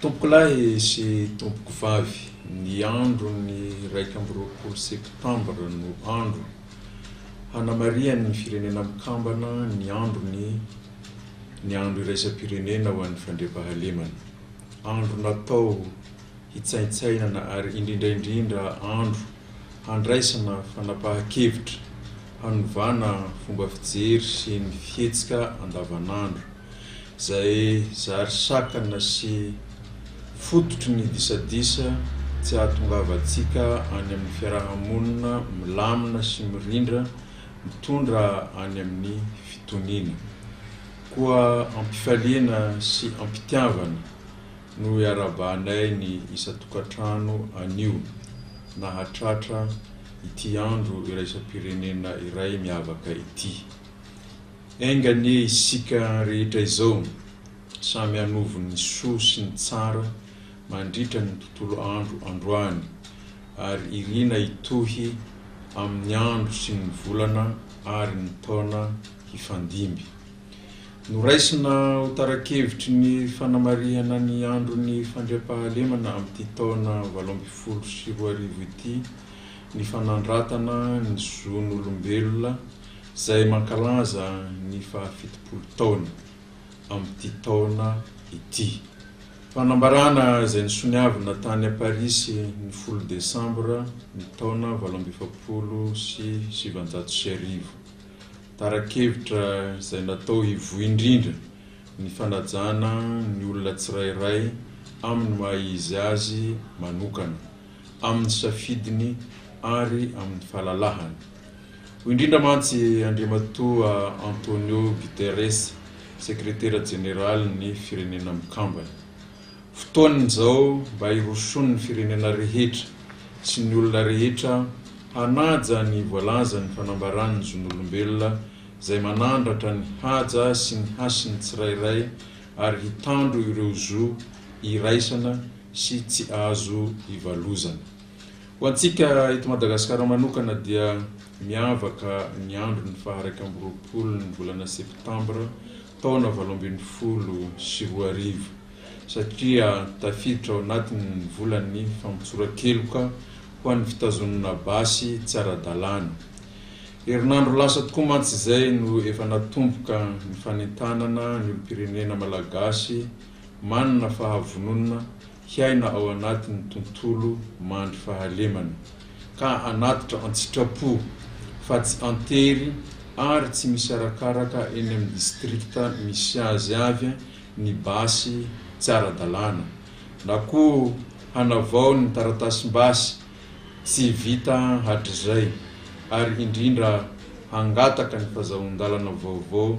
Tompokolahy sy tompokovavy, ny andron'ny iraika amby roapolo septambra no andro hanamarihan'ny Firenena Mikambana ny androny ny andro iraisam-pirenena ho an'ny fandriampahalemana. Andro natao hitsaintsainana ary indrindra indrindra andro handraisana fanapahan-kevitra, hanovana fomba fijery sy ny fihetsika andavanandro. izay zary sakana sy fototry ny disadisa tsy ahatongavantsika any amin'ny fiaraha-monina milamina sy mirindra mitondra any amin'ny fitoniana. Koa am-pifaliana sy am-pitiavana no iarahabanay ny isan-tokantrano anio nahatratra ity andro iraisam-pirenena iray miavaka ity. Enga anie isika rehetra izao samy hanovo ny soa sy ny tsara mandritra ny tontolo andro androany ary irina hitohy amin'ny andro sy ny volana ary ny taona hifandimby. Noraisina ho tara-kevitry ny fanamarihana ny andron'ny fandriampahalemana amin'ity taona valo ambin'ny folo sy roa arivo ity ny fanandratana ny zon'olombelona izay mankalaza ny faha fitopolo taona amin'ity taona ity. Fanambarana izay nisoniavina tany Parisy ny folo desambra ny taona valo amby efapolo sy sivinjato sy arivo. Tara-kevitra izay natao hivoy indrindra ny fanajana ny olona tsirairay amin'ny maha izy azy manokana, amin'ny safidiny ary amin'ny fahalalahany. Hoy indrindra mantsy Andriamatoa Antonio Guterres, Sekretera Jeneralin'ny Firenena Mikambana, Fotoana izao mba hirosoan'ny firenena rehetra sy ny olona rehetra hanaja ny voalazan'ny Fanambaran'ny Zon'olombelona izay manandratra ny haja sy ny hasin'ny tsirairay ary hitandro ireo zo iraisana sy tsy azo ivalozana. Ho antsika eto Madagasikara manokana dia miavaka ny andron'ny faha iraika amby roapolo ny volana septambra taona valo ambin'ny folo sy roa arivo satria tafiditra ao anatin'ny volan'ny famotsoran-keloka ho an'ny fitazonana basy tsy ara-dalàna. Herinandro lasa tokoa mantsy izay no efa natomboka ny fanentanana ny olom-pirenena malagasy manana fahavononana hiaina ao anatin'ny tontolo mandry fahalemana, ka hanatitra an-tsitrapo fa tsy an-tery ary tsy misy arakaraka eny amin'ny distrikta misy azy avy ny basy tsy ara-dalàna, na koa hanavao ny taratasim-basy tsy vita hatrizay, ary indrindra hangataka ny fazahoan-dalana vaovao.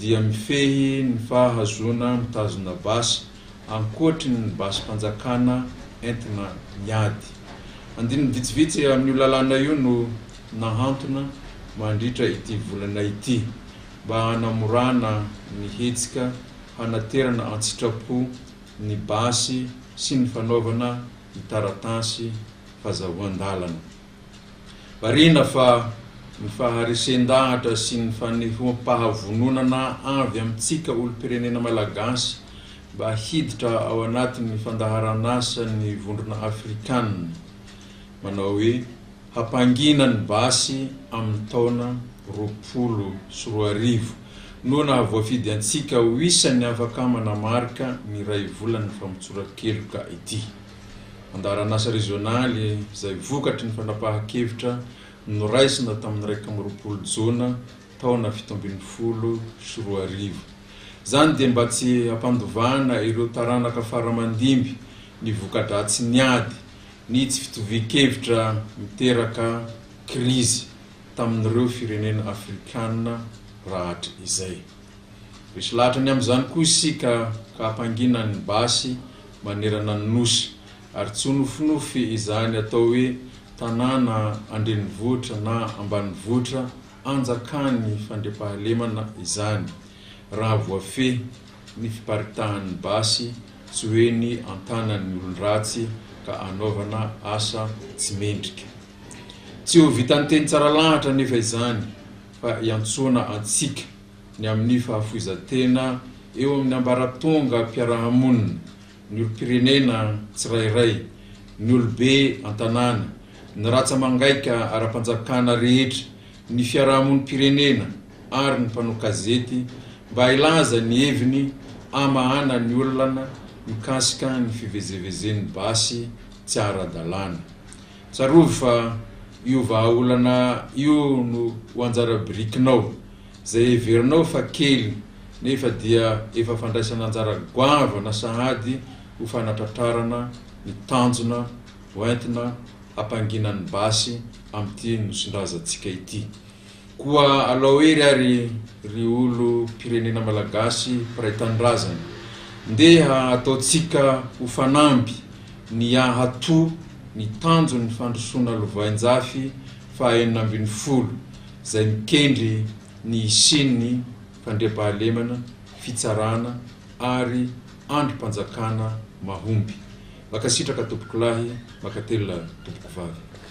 dia mifehy ny fahazoana mitazona basy ankoatry ny basim-panjakana entina miady. Andininy vitsivitsy amin'io lalàna io no nahantona mandritra ity volana ity mba hanamorana ny hetsika hanaterana an-tsitrapo ny basy sy ny fanaovana ny taratasy fazahoan-dalana. Marihina fa ny faharesen-dahatra sy ny fanehoam-pahavononana avy amintsika olom-pirenena malagasy mba hiditra ao anatin'ny fandaharan'asan'ny Vondrona Afrikana manao hoe hampangina ny basy amin'ny taona roapolo sy roa arivo no nahavoafidy antsika ho isan'ny afaka manamarika ny iray volan'ny famotsoran-keloka ity. andaharan'asa rezionaly izay vokatry ny fanapahan-kevitra noraisina tamin'ny iraika amby roapolo Jona taona fito ambin'ny folo sy roa arivo. Izany dia mba tsy hampandovana ireo taranaka faramandimby ny voka-dratsin'ny ady, ny tsy fitovian-kevitra miteraka krizy tamin'ireo firenena afrikana rahatr izay. Resy lahatra ny amin'izany koa isika ka hampanginan'ny basy manerana ny Nosy, ary tsy ho nofinofy izany atao hoe tanàna an-drenivohitra na ambanivohitra anjakan'ny fandriampahalemana izany, raha voafehy ny fiparitahan'ny basy tsy ho eny an-tanan'ny olon-dratsy ka hanaovana asa tsy mendrika. Tsy ho vitan'ny teny tsara lahatra anefa izany, fa iantsoana antsika. ny amin'ny fahafoizan-tena eo amin'ny ambaratongam-piarahamonina, ny olom-pirenena tsirairay, ny olobe an-tanàna, ny ratsa-mangaika ara-panjakana rehetra, ny fiarahamonim-pirenena ary ny mpanao kazety mba hilaza ny heviny hamahana ny olana mikasika ny fivezevezen'ny basy tsy ara-dalàna. Tsarovy fa io vahaolana io no ho anjara birikinao Izay heverinao fa kely nefa dia efa fandraisana anjara goavana sahady ho fanatratrarana ny tanjona hoentina hampanginan'ny basy amin'ity nosin-drazantsika ity. Koa alao hery ary ry olom-pirenena malagasy mpiray tanindrazana. Ndeha ataontsika ho fanamby ny hahatoa ny tanjon'ny fandrosoana lovainjafy faha enina ambin'ny folo izay mikendry ny hisian'ny fandriampahalemana, fitsarana ary andrim-panjakana mahomby. Makasitraka tompokolahy, makatelina tompokovavy.